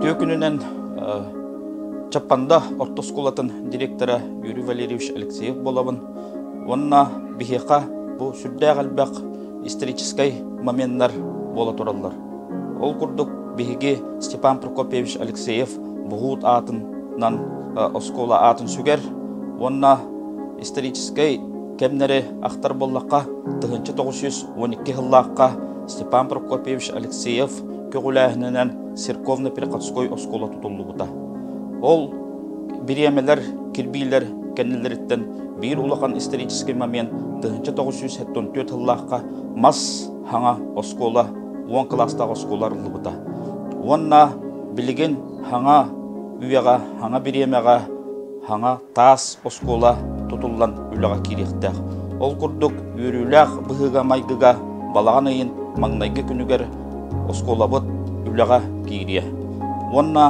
Үтүө күнүнэн Чаппанда орто оскуолатын директора Юрий Валерьевич Алексеев буолабын уонна биһиэхэ бу сүрдээх элбэх историческай моменнар буола тураллар. Ол курдук биһиги Степан Прокопьевич Алексеев буһуут аатынан оскуола аатын сүгэр уонна историческай кэмнэри ахтар буоллахха тыһыынча тоҕус жүз он икки сыллаахха Степан Прокопьевич Алексеев көҕүлээһининэн церковно-переходской оскуола тутуллубута. Ол бириэмэлэр, кирбиилэр кэннилэриттэн биир улахан исторический момент 1974 сыллаахха мас хаҥа оскуола уон кылаастаах оскуола арыллыбыта. Уонна билигин хаҥа үйэҕэ, хаҥа бириэмэҕэ, хаҥа таас оскуола тутуллан үлэҕэ киириэхтээх. Ол курдук, үөрүүлээх быһыыга-майгыга балаҕан ыйын маҥнайгы күнүгэр оскуолабыт үлэҕэ киириэ. Уонна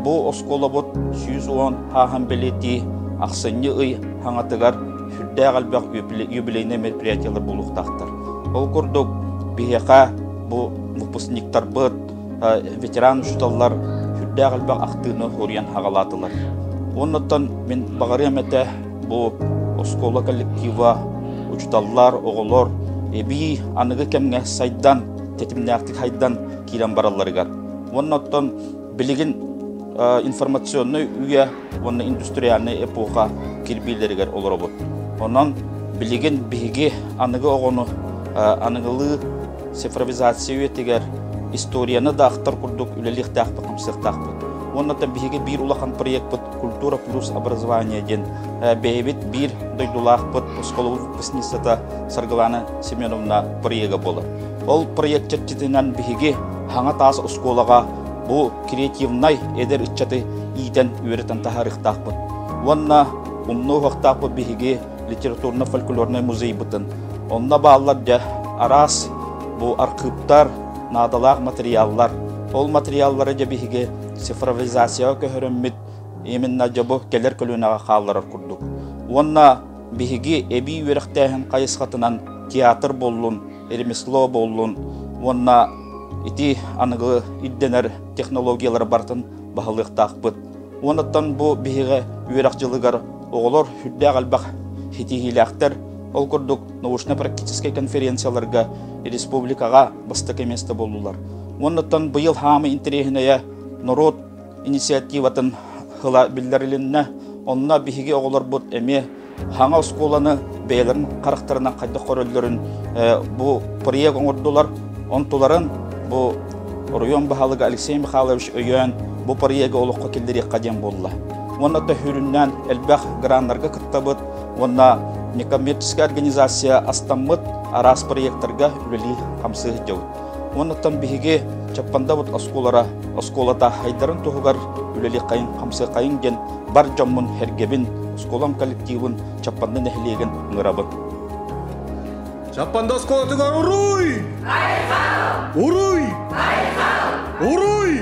бу оскуолабыт сүүс уон ааһан бэлиэтии ахсынньы ый хаҥатыгар сүрдээх элбэх юбилейнай мероприятиелар буолуохтаахтар. Ол курдук, биһиэхэ бу выпускниктарбыт, ветеран учууталлар сүрдээх элбэх ахтыыны уруйан аҕалаатылар. Оннуттан мин баҕарыам этэ бу оскуола коллектива, учууталлар, оҕолор эбии аныгы кэмҥэ сайдан, тэтимнээхтик хайдан киирэн баралларыгар. Оннуттан билигин информационный үйэ уонна индустриальный эпоха кирбиилэригэр олоробут. Онон билигин биһиги аныгы оҕону аныгылыы цифровизация үйэтигэр историяны да ахтар курдук үлэлиэхтээхпит хамсыахтаахпыт уонна да биһиги биир улахан проектпыт культура плюс образование диэн бэйэбит биир дойдулаахпыт осколобут выпускницата Саргылана Семеновна проекта буолар. Ол проект чэрчитинэн биһиги хаҥа таас оскуолаҕа бу креативнай эдэр ыччаты иитэн үөрэтэн таһаарыахтаахпыт. Уонна умнуохтаахпыт биһиги литературно-фольклорнай музейбытын. Онно бааллар дьэ араас бу архыыптар, наадалаах материаллар. Ол материаллары дьэ биһиги цифровизацияҕа көһөрөммүт именно дьэ бу кэлэр көлүөнэҕэ хаалларар курдук. Уонна биһиги эбии үөрэхтээһин хайысхатынан театр буллун, ремесло буллун уонна ити аныгы ирдэнэр технологиялары барытын баһылыахтаахпыт. Уонуттан бу биһиги үөрэх дьылыгар оҕолор сүрдээх элбэх ситиһиилээхтэр. Ол курдук научно-практическай конференцияларга республикаҕа бастакы место буоллулар. Уонуттан быйыл хаамыы интэриэһинэйэ норуот инициативатын ыла биллэрилиннэ. Онно биһиги оҕолорбут эмиэ хаҥа оскуоланы бэйэлэрин харахтарынан хайдах көрөллөрүн бу проект оҥордулар онтуларын бу оройуон баһылыга Алексей Михайлович өйөөн бу проекты олоххо киллэриэххэ диэн буолла уонна төхүрүннээн элбэх граннарга кыттабыт уонна некоммерческая организация астаммыт араас проектарга үлэлии хамсыы сылдьабыт уоннаттан биһиги чаппандабыт оскуолара оскуолата хайдарын туһугар үлэлиэххэйин хамсыаххайын диэн бар дьоммун, эргэбин, оскуолам коллективын, Чаппанды нэһилиэгин ыҥырабын. Чаппанды оскуолатыгар уруй! Уруй! Уруй!